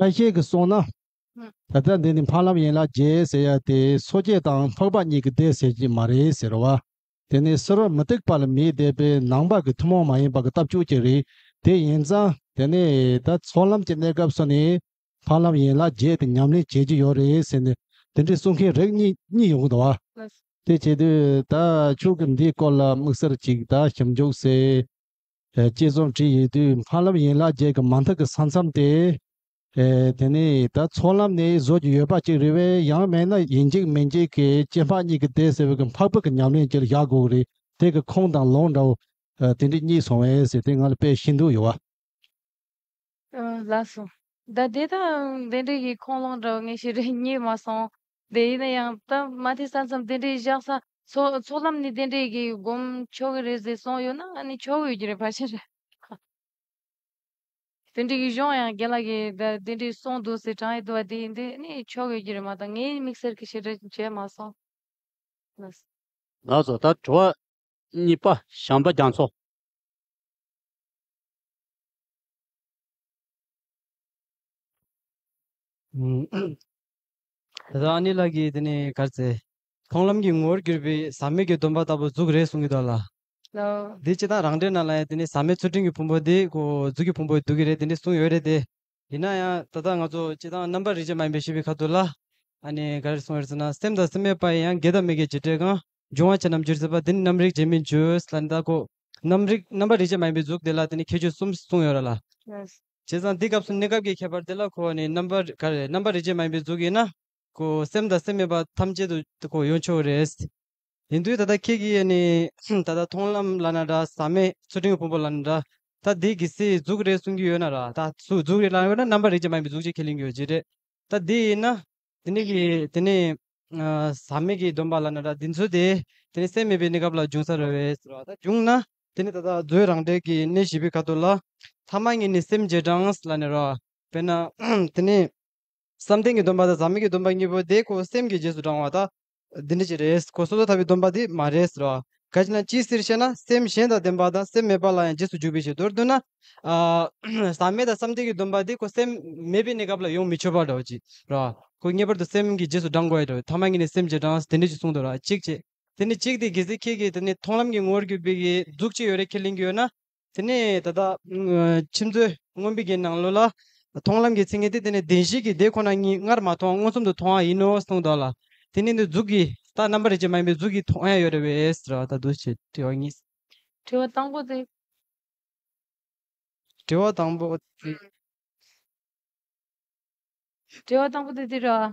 ལྷ་ཤེས་ཀྱིས་གསུངས་ན། ད་ལྟ་འདི་ནི་འཕགས་ལམ་ཡིན་ལ་རྗེའི་སྲས་ཡབ་དེ་སོ་སྐྱེ་དང་འཕགས་པ་གཉིས་ཀྱི་སྡེ་ཟེར་གྱི་མ་རེད་ཟེར་བ། དེ་ནི་གསོལ་བ་མི་སྟེགས་པ་ལ་མིའི་སྡེ་པའི་ནང་པ་གི་ཐུན་མོང་མ་ཡིན་པ་གི་ལྟ་བཅུ་གཅིག་རེད་དེ་ཡིན་ཙང་དེ་ནི་ད་ཚོགས་ལམ་གྱི་གནས་སྐབས་སུ་ནི་འཕགས་ལམ་ཡིན་ལ་རྗེ་དེ་ཉམས་ལེན་བྱེད་ཀྱི་ཡོད་རེད་ཟེར་ནས་དེ་འདྲའི་གསུང་མཁན་རིགས་གཉིས་ཡོང་གི་འདུག་བ། དེ་བྱེད་དུས་ད་ཆོས་གི་འདིའི་སྐོར་ལ་དམིགས་བསལ་གཅིག་ད་ཞིབ་འཇུག་སའི་དཔྱད་རྩོམ་བྲིས་ཡོད་དུས་སྨར་ལམ་ཡན་ལག་བརྒྱད་ཀྱི་མ་མཐའ་གི་ས་མཚམས་ཏེ། དེ་ནས་ད་ཚོགས་ལམ་ནི་བཟོ་རྒྱུ་ཡོད་པ་ཅིག་རེད་བས་ཡང་མེད་ན་ཡིན་འཇིག་མིན་འཇིག་གི་སྐྱེ་འཕགས་གཉིས་ཀྱི་ལྟས་ཟེར་བའི་གི་འཕགས་བོད་ཀྱི་ཉམས་ལེན་གྱི་བཞག་གོག་རེད་དེ་གི་ཁོངས་དང་ལོངས་འདྲ་བོ། དེ་འདྲས་གཉིས་སོང་བས་ཟེར་ཏེ་ང་ལ་དཔེ་ཤིན་ཏུ་ཡོད་བ། ལགས་སོ། ད་དེ་དང་དེ་འདྲས་གི་ཁོངས་ལོངས་འདྲ་བོ་ངས་ཤེས་རིག་གཉིས་མ་སོང། དེ་ཡིན་ན་ཡང་སྟབས་མ་ཐིག་ས་མཚམས་དེ་འདྲའི་བཞག་ས། ཚོགས་ལམ་ནི་དེ་འདྲའི་གི་སྒོམ་ཆོག་གི་རེད་ཟེར་གསུངས་ཡོད་ན་ཨ་ནི་ཆོག་ཡོད་ཀྱི་རེད་ཕར་ཕྱིན་རེད། དེ་འདྲའི་གི་གཞུང་ཡང་རྒན་ལགས་ཀྱི་དེ་འདྲའི་གསུངས་འདུག་ཟེར་གྲངས་ཡོད་དུ་བ་དེ་ཡིན་དེ་ནི་ཆོག་ཡོད་ཀྱི་རེད་མ་གཏོགས་ངའི་མིག་སེར་གྱི་ཞེ་དྲག་བྱས་མ་སོང། ང་བཟོ་ལྟར་དྲི་བ་གཉིས་པ་ཞང་པ་རྒྱ་མཚོ། དེ་དག་ཨ་ནེ་ལགས་ཀྱིས་དེ་ནས་གར་བཙལ། མཐོང་ལམ་གྱི་ངོ་བོར་གྱུར་པའི་ཟག་མེད་ཀྱི་སྡོམ་པ་ལྟ་བུ་གཟུགས་རེད་གསུང་གི་འདུག་ལ། དེ་སྤྱི་དང་རང་འབྲེལ་གནང་ལ་ཡང་དེ་ནི་ཟག་མེད་ཚུལ་ཁྲིམས་ཀྱི་ཕུང་པོ་དེ་གོ་གཟུགས་ཀྱི་ཕུང་པོ་སྡུག་གི་རེད་དེ་འདྲས་གསུང་ཡོད་རེད་དེ། ཡིན་ན་ཡང་ད་ལྟ་ང་ཚོ་སྤྱི་དང་རྣམ་པར་རིག་བྱེད་མ་ཡིན་པའི་ཤེས་པའི་ཁ་ཐུག་ལ། ཨ་ནེ་ག་རེ་གསུང་ཡོད་ཟེར་ན་སེམས་དང་སེམས་མེད་པ་ཡིན་ཡང་དགེ་དང་མི་དགེ་བྱེད་འབྲས་གང་འབྱུང་བ་ཆ་རྣམས་བརྗོད་ཟེར་པ་དེ་ནི་རྣམ་རིག་བྱེད་མིན་བརྗོད་ལ་ནི་ད་གོ། རྣམ་རིག་རྣམ་པར་རིག་བྱེད་མ་ཡིན་པའི་གཟུགས་དེ་ལ་དེ་ནི་ཁྱད་ཆོས་གསུམ་གསུང་ཡོད་ར་ལ། བྱས་ཙང་འདི་སྐབས་སུ་གནས་སྐབས་ཀྱི་ཁྱད་པར་དེ་ལ་གོ་བ་ནི་རྣམ་པར་ག་རེ་རྣམ་པ་རིག་བྱེད་མ་ཡིན་པའི་གཟུགས་ཡིན་ན། ཀོ། སེམས་དང་སེམས་མེད་པ་ཐམས་ཅད་དུ་ཀོ་ཡོང་ཆོག་རེད། ཡིན་དུས་ད་ལྟ་ཁྱེད་ཀྱིས་ཡེ་ནས་ད་ལྟ་མཐོང་ལམ་བླ་ན་དགྲ་ཟམ་མེད་ཚུལ་ཁྲིམས་ཀྱི་ཕུང་པོ་བླ་ན་དགྲ་ད་འདི་གི་སྲིད་གཟུགས་རེད་གསུང་གི་ཡོད་ན་ར་ད་སུ་གཟུགས་རེད་ལ་ཡོད་ན་རྣམ་པར་རིག་བྱེད་མ་ཡིན་པའི་གཟུགས་ཅིག་ཁས་ལེན་གྱི་ཡོད་ཅི་རེད་ད་འདི་ཡིན་ན། དེ་ནས་ཀྱི་དེ་ནས་ཟམ་མེད་ཀྱི་སྡོམ་པ་བླ་ན་དགྲ་འདི་ཚོ་དེ་དེ་ནས་སེམས་མེད་པའི་གནས་སྐབས་ལ་འབྱུང་ས་རེད་བས་ཟེར་བ་ད་འབྱུང་ན། དེ་ནི་ད་ལྟ་རྫོའི་རང་འགྲེལ་གྱི་གནད་བཞི་པའི་ཁ་དོག་ལ། ཐ་མ་གཉིས་ནི་སེམས་བརྒྱད་གྲངས་ལ་ནི་རོ། དཔེར་ན། དེ་ནི། བསམ་གཏན་གྱི་སྡོམ་པ་དང་ཟག་མེད་ཀྱི་སྡོམ་པ་གཉིས་པོ་དེ་ཁོ་སེམས་ཀྱི་རྗེས་སུ་འབྲང་བ་དང། འདི་འདྲ་ཅི་རེད་ཁོ་སོ་སོར་ཐར་པའི་སྡོམ་པ་དེ་མ་རེད་ཟེར། གལ་ཆེ་ན་ཅིའི་ཕྱིར་ཞེ་ན་སེམས་གཞན་དང་ལྡན་པ་དང་སེམས་མེད་པ་ལ་ཡང་རྗེས་སུ་འཇུག་པའི་ཕྱིར་དུ་ར་འདོད་ན། ཟག་མེད་དང་བསམ་གཏན་གྱི་སྡོམ་པ་དེ་ཁོ་སེམས་མེད་པའི་གནས་སྐབས་ལ་ཡོངས་མི་ཆོད་པར་འདྲ་བ་ཅི་རེད། ཁོ་ངེས་པར་དུ་སེམས་ཀྱི་རྗེས་སུ་འབྲང་དགོས་རེད། ཐ་མ་གཉིས་ནི་སེམས་བརྒྱད་གྲངས་དེ་འདྲ་ཅི་གསུངས་འདུག་གཅིག་བྱས། དེ་ནི་གཅིག་དེ་གེ་སེ་ཁྱེད་ཀྱིས་དེ་ནི་མཐོང་ལམ་གྱི་ངོ་བོར་གྱུར་པའི་གཟུགས་ཅི་ཡོད་རེ་ཁས་ལེན་གྱི་ཡོད་ན། དེ་ནི་ད་ལྟ་ཁྱིམ་མཚོའི་རྔོན་པའི་གེའི་ནང་ལོགས་ལ། མཐོང་ལམ་གྱི་ཚིག་ངན་དེ་དེ་ནི་བདེན་བཞིའི་གེའི་སྡེ་ཁོ་ན་ཉིད་སྔར་མ་མཐོང་མངོན་སུམ་དུ་མཐོང་བ་ཡིན་ནོ་གསུངས་དོགས་ལ། དེ་ནི་འདི་གཟུགས་ཀྱི་རྟགས་རྣམ་པ་རེ་ཅན་མ་ཡིན་པའི་གཟུགས་ཀྱི་མཐོང་ཡང་ཡོད་རེ་བས་ཟེར་བ་དང་འདུ་བྱེད་དྲི་བ་གཉིས། དྲི་བ་དང་པོ་དེ། དྲི་བ་དང་པོ་དེ། དྲི་བ་དང་པོ་དེ་འདི་རེད།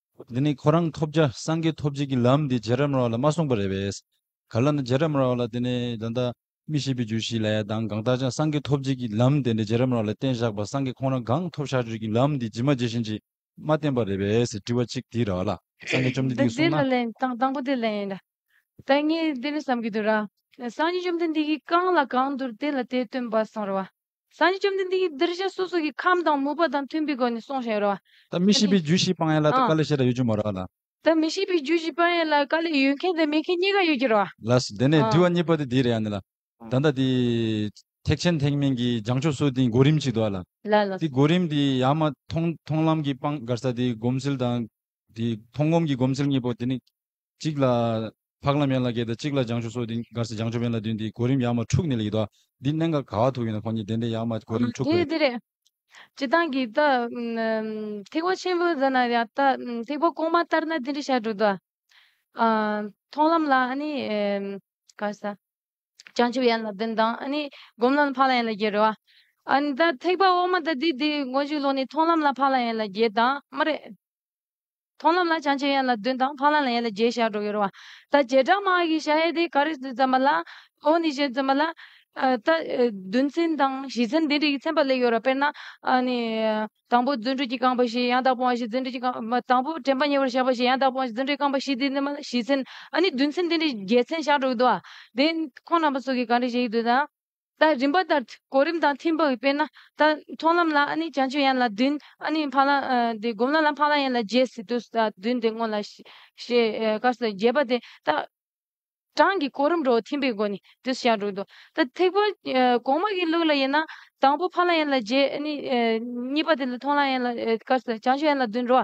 འདི་ནི་ཁོ་རང་ཐོབ་བྱ་སངས་རྒྱས་ཐོབ་བྱེད་ཀྱི་ལམ་འདི་རྗེ་རབ་ར་བ་ལ་མ་གསུངས་པ་རེད་བས། ག་ལ་ན་རྗེ་རབ་ར་བ་ལ་དེ་ནི་ད་ལྟ་མི་ཤེས་པའི་རྒྱུ་ཞིག་ལས་གདང་གང་བཏགས་ཀྱང་སངས་རྒྱས་ཐོབ་བྱེད་ཀྱི་ལམ་དེ་འདྲ་རྗེ་རབ་ར་བ་ལ་བསྟན་བཞག་པ་སངས་རྒྱས་ཁོང་རང་གང་ཐོབ་བྱ་སྤྱོད་ཀྱི་ལམ་འདི་ཇི་མ་ཇི་བཞིན་གྱིས་མ་བསྟན་པ་རེད་བས་དྲི་བ་གཅིག་དེའི་ར་ལ་སངས་རྒྱས་བཅོམ་ལྡན་འདི་འདི་འདི་གསུངས་ལ་ན། ལན་དང་དང་པོ་དེ་ལན་ཡིན་ལ། དང་གཉིས་འདི་ནི་བསམ་གྱི་འདུག་ར། སངས་རྒྱས་བཅོམ་ལྡན་འདས་ཀྱིས་གང་ལ་གང་འདུལ་དེ་ལ་དེ་སྟོན་པ་གསུངས་ར་བ། སངས་རྒྱས་བཅོམ་ལྡན་འདས་ཀྱིས་གདུལ་བྱ་སོ་སོ་ཀྱི་ཁམས་དང་མོས་པ་དང་མཐུན་པའི་སྒོ་ནས་གསུངས་ཤིང་རོལ་བ། དེ་མི་ཤེས་པའི་རྒྱུས་ཤིག་སྤང་ཡས་ལ་དེ་ཀ་ལས་ཤེས་རབ་ཡོད་རྒྱུ་མ་རོལ་ལ། དེ་མི་ཤེས་པའི་རྒྱུས་ཤིག་སྤང་ཡས་ལ་དེ་ཀ་ལས་ཡོད་མཁན་དང་མེད་མཁན་གཉིས་ཀ་ཡོད་ཀྱི་རོལ་བ། ལ། དེ་ནས་དུལ་བ་གཉིས་པ་དེ་དེའི་རེ་ཡང་ནི་ལ། ད་ལྟ་དེ། ཐེག་ཆེན་ཐེག་དམན་གྱི་སྦྱང་ཆོག་སོགས་དེའི་གོ་རིམ་ཅིག་ཏུ་ཨ་ལ། ལ། དེའི་གོ་རིམ་དེ་ཡང་མ་མཐོང་མཐོང་ལམ་གྱི་སྤང་དགར་ས་དེའི་སྒོམ་ཚུལ་དང། དེའི་མཐོང་སྒོམ་གྱི་སྒོམ་ཚུལ་གཉིས་པོ་དེ་ནི། གཅིག་ལ། འཕགས་ལམ་ཡན་ལག་བརྒྱད་དང་གཅིག་ལ་སྦྱང་ཆུ་སོགས་འདི་འགར་སྦྱང་ཆུ་བན་ལ་བདུན་དེའི་གོ་རིམ་ཡང་མ་འཁྲུགས་ནི་ལ་ཡི་དྭགས་འདི་གནད་འགག་ག་བ་ཐུག་ཡིན་ན་ཁོང་གཉིས་བདེན་བདེན་ཡང་མ་གོ་རིམ་འཁྲུགས་པའི། དེ་རེད། སྤྱི་བཏང་གི་ད། ཐེག་པ་ཆེན་པོའི་ཛཱ་ན་ཡ་ད། ཐེག་པ་གོང་མ་ལྟར་ན་དེ་འདྲའི་ཞར་དྲུག་ད། མཐོང་ལམ་ལ་ཨ་ནི། ག་ས། སྦྱང་ཆུ་ཡན་ལག་བདུན་དང་ཨ་ནི། སྒོམ་ལམ་ལ་འཕགས་ལམ་ཡན་ལག་བརྒྱད་རེད་བ། ཨ་ནི་ད་ཐེག་པ་འོག་མ་ད་དེ་དེའི་མགོ་མཇུག་ལོགས་ནི་མཐོང་ལམ་ལ་འཕགས་ལམ་ཡན་ལག་བརྒྱད་དང་མ་རེད། མཐོང་ལམ་ལ་བྱང་ཆེན་ཡན་ལག་བདུན་དང་འཕགས་ལམ་ལ་ཡན་ལག་བརྒྱད་བཞག་གྲོགས་ཡོད་རུང་བ། ད་བྱེ་བྲག་མ་ཧཱ་ཀི་ཤ་ཡེ་དེ་ཀ་རི་སི་ཙམ་པ་ལ། ཨོ་ནི་ཤེ་ཙམ་པ་ལ། ད། བདུན་ཚན་དང་བཞི་ཚན་འདི་འདྲ་ཡི་ཚན་པ་ལེགས་ཡོད་ར་དཔེར་ན། ནི། དང་པོ་བརྫུན་འཕྲུལ་གྱི་རྐང་པ་བཞི་ཡང་དག་སྤོང་བ་བཞི་བརྫུན་འཕྲུལ་གྱི་རྐང། མ། དང་པོ་དྲན་པ་ཉེ་བར་བཞག་པ་བཞི་ཡང་དག་སྤོང་བ་བཞི་བརྫུན་འཕྲུལ་གྱི་རྐང་པ་བཞི་དེ་འདི་མ་ལ་བཞི་ཚན། ནི་བདུན་ཚན་འདི་འདྲ་བརྒྱད་ཚན་བཞག་གྲོགས་ཡོད་དོ། དེ། ཁོང་རྣམ་པ་སོགས་ཀྱིས་གང་འདྲ་བྱེད་ཀྱི་འདུག་དང། ད་རིམ་པ་ལྟར་གོ་རིམ་དང་མཐུན་པའི་དཔེར་ན། ད་མཐོང་ལམ་ལ་ཨ་ནི་བྱང་ཆུབ་ཡན་ལ་བདུན། ཨ་ནི་འཕགས་ལམ་དེ་སྒོམ་ལམ་ལ་འཕགས་ལམ་ཡན་ལ་བརྒྱད་སི་ཏུ་ས་བདུན་དེ་བསྔོ་ལ། ཞེས་བཀའ་སྩལ་བརྒྱད་པ་དེ་ད་གྲངས་ཀྱི་གོ་རིམ་རོ་མཐུན་པའི་སྒོ་ནས་དུ་བྱ་འགྲོ་འདུག་ད་ཐེག་པ་གོང་མ་གི་ལུགས་ལ་དབྱེ་ན། དང་པོ་འཕགས་ལམ་ཡན་ལ་བརྒྱད་ཨ་ནི་གཉིས་པ་དེ་ལ་མཐོང་ལམ་ཡན་ལ་བཀའ་སྩལ་བྱང་ཆུབ་ཡན་ལ་བདུན་རོ།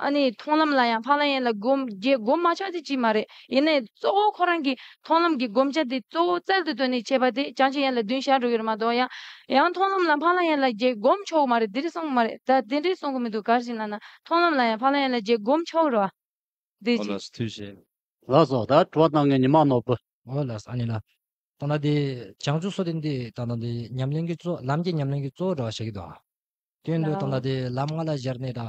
ཨ་ནི་མཐོང་ལམ་ལ་ཡང་ཕ་ལ་ཡན་ལ་སྒོམ་རྒྱའི་སྒོམ་མ་ཆགས་ཏེ་ཅིས་མ་རེད་ཡིན་ནའི་གཙོ་བོ་ཁོ་རང་གིས་མཐོང་ལམ་གྱི་སྒོམ་བྱ་དེ་གཙོ་བོ་རྩལ་དུ་བཏོན་ནས་བྱས་པ་དེ་བྱང་ཆུབ་ཡན་ལ་བདུན་ཞག་དྲུག་ཡོད་རེད་མ་གཏོགས་ཡང་ཡང་མཐོང་ལམ་ལ་ཕ་ལ་ཡན་ལ་རྒྱའི་སྒོམ་ཆོག་གི་མ་རེད་དེ་རེད་གསུངས་གི་མ་རེད་ད་དེ་འདྲའི་གསུངས་གི་མི་འདུག་གར་བཞིན་ལ་ན་མཐོང་ལམ་ལ་ཡང་ཕ་ལ་ཡན་ལ་རྒྱའི་སྒོམ་ཆོག་རེད་བ། འདི་ཅི། ལགས་སོ་ད་དྲི་བ་གནང་མཁན་ཉི་མ་ནོར་བུ། ཨོ་ལགས་ཨ་ནི་ལ། ད་ན་དེ་བྱང་ཆུབ་སོགས་དེ་འདི་ད་ན་དེ་ཉམས་ལེན་གྱི་གཙོ་ལམ་གྱི་ཉམས་ལེན་གྱི་གཙོ་བོ་འདྲ་བ་བྱེད་ཀྱི་འདུག་ཨ། དོན་དུ་ད་ན་དེ་ལམ་ལྔ་ལ་གཞལ་ནས་ད།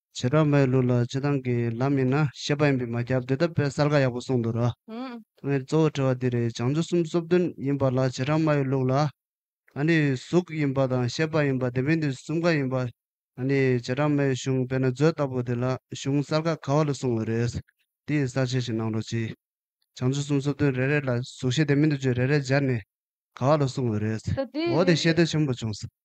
བྱེ་བྲག་མའི་ལུགས་ལ་སྤྱི་དང་གི་ལམ་ཡིན་ན་ཤེས་པ་ཡིན་པས་མ་བསྐྱར་ཟློས་དམ་པའི་གསལ་ཁ་ཡག་པོ་གསུངས་འདུག་ར། ཐོག་མེད་གཙོ་བོ་དྲི་བ་འདི་རེད་བྱང་ཆུབ་སེམས་གསོབ་དོན་ཡིན་པ་ལ་བྱེ་བྲག་མའི་ལུགས་ལ། ཨ་ནི་གཟུགས་ཡིན་པ་དང་ཤེས་པ་ཡིན་པ་དེ་མིན་དུས་གསུམ་ཀ་ཡིན་པ། ཨ་ནི་བྱེ་བྲག་མའི་གཞུང་དཔེར་ན་མཛོད་ལྟ་བུ་དེ་ལ་གཞུང་གསལ་ཁ་ག་བ་ལ་གསུངས་བ་རེད། དེ་ཡི་གསལ་བྱེད་ཞིག་གནང་རོགས་གྱིས། བྱང་ཆུབ་སེམས་གསོབ་དོན་རེ་རེ་ལ་གཟུགས་ཤེས་དེ་མིན་དུ་བརྗོད་རེ་རེ་སྦྱར་ནས་ག་བ་ལ་གསུངས་བ་རེད། འོ་དེ་ཤེས་དོན་ཆེན་པོ་བྱུང།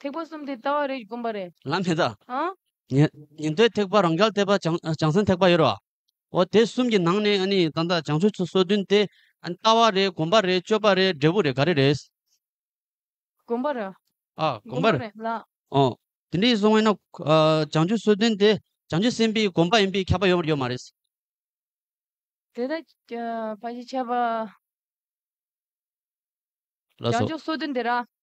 ཐེག་པ་གསུམ་དེ་ལྟ་བ་རེད་དགོངས་པ་རེད། ལམ་མེད་ད། ཨང། ཉན་ཐོས་ཐེག་པ་རང་རྒྱལ་བསྟན་པ་བྱང་སེམས་ཐེག་པ་ཡོད་རེད། འོ་དེ་གསུམ་གྱི་ནང་ནས་ནི་ད་ལྟ་བྱང་ཆུབ་ཚུལ་སོ་བདུན་དེ། ལྟ་བ་རེད་དགོངས་པ་རེད་སྤྱོད་པ་རེད་འབྲས་བུ་རེད་ག་རེ་རེད། དགོངས་པ་རེད། ཨ་དགོངས་པ་རེད་ལགས། ཨོ། དེ་འདྲའི་སོང་བས་ན། བྱང་ཆུབ་སོ་བདུན་དེ་བྱང་ཆུབ་སེམས་དཔའི་དགོངས་པ་ཡིན་པས་ཁྱབ་པ་ཡོད་ཡོད་མ་རེད། དེ་ལྟར་བ་ཞིག་ཁྱབ་པ། ལགས་སོ། བྱང་ཆུབ་སོ་བདུན་དེ་ར།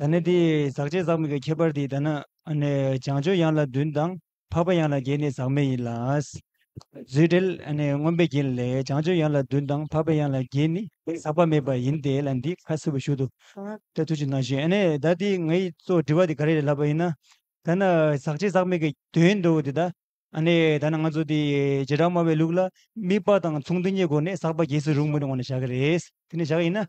ད་ནི་དེ་ཟག་བཅས་ཟག་མེད་ཀྱི་ཁྱད་པར་དེ་ལྟ་ན། བྱང་ཆུབ་ཡང་ལ་བདུན་དང། འཕགས་པ་ཡང་ལ་བརྒྱད་ནི་ཟག་མེད་ཡིན་ལ། རྫུས་འབྲེལ་མངོན་པའི་རྒྱན་ལས་བྱང་ཆུབ་ཡང་ལ་བདུན་དང་འཕགས་པ་ཡང་ལ་བརྒྱད་ནི་ཟག་པ་མེད་པ་ཡིན་ཏེ་ལ་འདི་ཁ་སིལ་བུ་ཞུ་དུ་ཏེ་ཐུགས་ཆུད་ན་བཞིན་ཨ་ནེ་ད་དེ་ང་ཡིས་གཙོ་བོ་དྲི་བ་དེ་ག་རེ་རེ་ལབ་པ་ཡིན་ན། ཐ་ན་ཟག་བཅས་ཟག་མེད་ཀྱི་དོན་དུ་དེ་ལྟ་ཨ་ནེ་ད་ནི་ང་ཚོ་དེ་བྱེ་བྲག་སྨྲ་བའི་ལུགས་ལ་དམིགས་པ་དང་མཚུངས་ལྡན་གྱི་སྒོ་ནས་ཟག་པ་རྒྱས་སུ་རུང་མི་རུང་བ་ནི་བཞག་གི་རེད་དེ་ནི་བཞག་ཡིན་ན།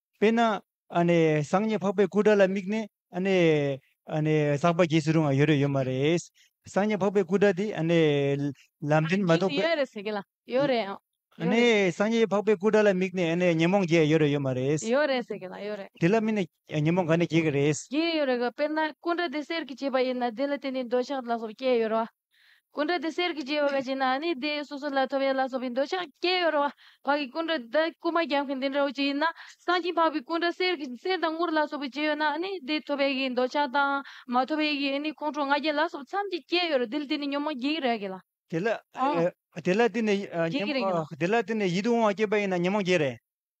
དཔེར་ན། སངས་རྒྱས་འཕགས་པའི་སྐུ་དགྲ་ལ་དམིགས་ནས། བསགས་པ་རྒྱས་སུ་རུང་བ་ཡོད་རེད་ཡོད་མ་རེད། སངས་རྒྱས་འཕགས་པའི་སྐུ་དགྲ་དེ། ལམ་འདྲེན་མ་གཏོགས་པའི། སངས་རྒྱས་འཕགས་པའི་སྐུ་དགྲ་ལ་དམིགས་ནས་ཉོན་མོངས་རྒྱས་ཡོད་རེད་ཡོད་མ་རེད། དེ་ལ་དམིགས་ནས་ཉོན་མོངས་ག་ནས་རྒྱས་ཀྱི་རེད། དཔེར་ན། སྐུ་དགྲ་དེ་གསེར་གྱིས་བྱས་པ་ཡིན་ན་དེ་ལ་བརྟེན་ནས་འདོད་ཆགས་ལ་སོགས་སྐྱེས་ཡོད་རེད། སྐུ་འདྲ་དེ་གསེར་གྱི་སྐྱེ་བ་ག་ཅིག་ན་ནི་དེ་སོ་སོ་ལ་ཐོབ་ཡ་ལ་སོགས་པའི་འདོད་ཆགས་སྐྱེ་ཡོད་རུང་བར་གྱི་སྐུ་འདྲ་དེ་རྐུ་མ་རྒྱག་མཁན་དེ་འདྲ་བོ་ཅིག་ཡིན་ན་སངས་ཀྱིས་འཕགས་པའི་སྐུ་འདྲ་གསེར་གྱི་གསེར་དང་དངུལ་ལ་སོགས་པའི་སྐྱེ་ཡོད་ན་ནི་དེ་ཐོབ་ཡ་གི་འདོད་ཆགས་དང་མ་ཐོབ་ཡ་གི་ནི་ཁོང་ཁྲོ་ང་རྒྱལ་ལ་སོགས་པ་མཚམས་ཀྱིས་སྐྱེ་ཡོད་རུང་དེ་ལ་དེ་ནི་ཉོན་མོངས་སྐྱེ་གི་རེད་གི་ལ། དེ་ལ་དེ་ལ་དེ་ནི་ཉོན་མོངས་སྐྱེ་གི་རེད་གི་ལ། དེ་ལ་དེ་ནི་ཡིད་དུ་འོང་བ་སྐྱེས་པ་ཡིན་ན་ཉོན་མོངས་སྐྱེ་རེད།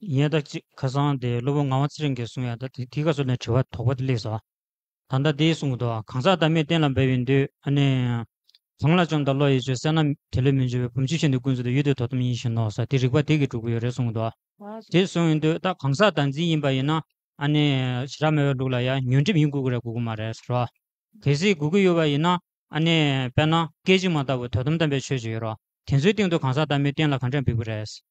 ཡས་ད་ཅིག་ཁ་སང་དེ་སློབ་བུ་ངག་དབང་ཚེ་རིང་གིས་གསུངས་ཡས་ད་དེ་དེ་ག་སོ་ནས་དྲི་བ་དོག་པ་དེ་ལེགས་སོ། ད་ལྟ་དེའི་གསུང་དུ་གང་ཟག་བདག་མེད་གཏན་ལ་འབེབས་ཡིན་དུས་ཨ་ནི། གང་ལ་བཅོམ་དང་བློ་ཡི་ཆོས་གསལ་ན་དེ་ལས་མི་འབྱུང་བའི་བུམ་ཆུ་བཞིན་དུ་ཀུན་རྫོབ་ཏུ་ཡུལ་དེ་དོ་དམ་ཡིན་བཞིན་ནོ་ས་དེ་རིགས་པ་དེ་གིས་གྲུབ་ཀྱི་ཡོད་རེད་གསུངས་ཏོ། དེ་གསུངས་ཡིན་དུས་ད་གང་ཟག་བདག་འཛིན་ཡིན་པ་ཡིན་ན་ཨ་ནི། བྱེ་བྲག་མེད་པའི་ལུགས་ལ་ཡང་ཉོན་སྒྲིབ་ཡིན་དགོས་ཀྱི་རེད་དགོས་ཀྱི་མ་རེད་ཟེར་རོ། གལ་སྲིད་དགོས་ཀྱི་ཡོད་པ་ཡིན་ན་ཨ་ནི། དཔེར་ན་སྐད་ཅིག་མ་ལྟ་བུ་དོ་དམ་དམ་པའི་ཆོས་ཅིག་ཡོད་རོ། དེ་ཚོའི་སྟེང་དུ་གང་ཟག་བདག་མེད་གཏན་ལ་གང་དྲན་འབེབས་ཀྱི་རེད།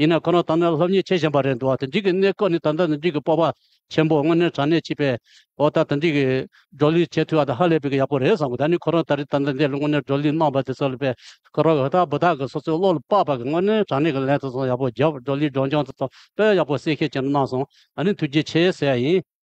ཡིན་ན་ཁོ་རང་དང་ནི་སློབ་གཉེར་བྱེད་བཞིན་པ་རེད་འདུག་ཨ་ཏི་འཇིག་གི་གནས་སྐོར་ནི་ད་ལྟ་ནི་འཇིག་གི་སྤོབས་པ་ཆེན་པོ་དངོས་གནས་དྲང་གནས་བྱིས་པའི་འོག་ད་ལྟ་འཇིག་གི་བགྲོ་གླིང་བྱེད་ཐུབ་པ་དེ་ཧ་ལས་པའི་ཡག་པོ་རེད་བསམ་གི་ད་ནི་ཁོ་རང་ད་རི་ད་ནི་འདི་དངོས་གནས་བགྲོ་གླིང་གནང་བ་དེ་ཚོ་ལ་པའི་ཁོ་རང་གི་བདག་བུ་དག་གི་སོ་སོའི་བློ་ལ་དཔག་པ་གི་དངོས་གནས་དྲང་གནས་ཀྱི་ལན་དེ་ཚོ་ཡག་པོ་བརྒྱབ་བགྲོ་གླིང་སྒྲོག་སྦྱང་དེ་ཚོ་དཔེ་ཡག་པོ་གསལ་ཤེས་ཅན་དུ་གནང་སོང་ཨ་ནི་ཐུགས་རྗེ་ཆེ་ཟེར་ཡ་ཡིན།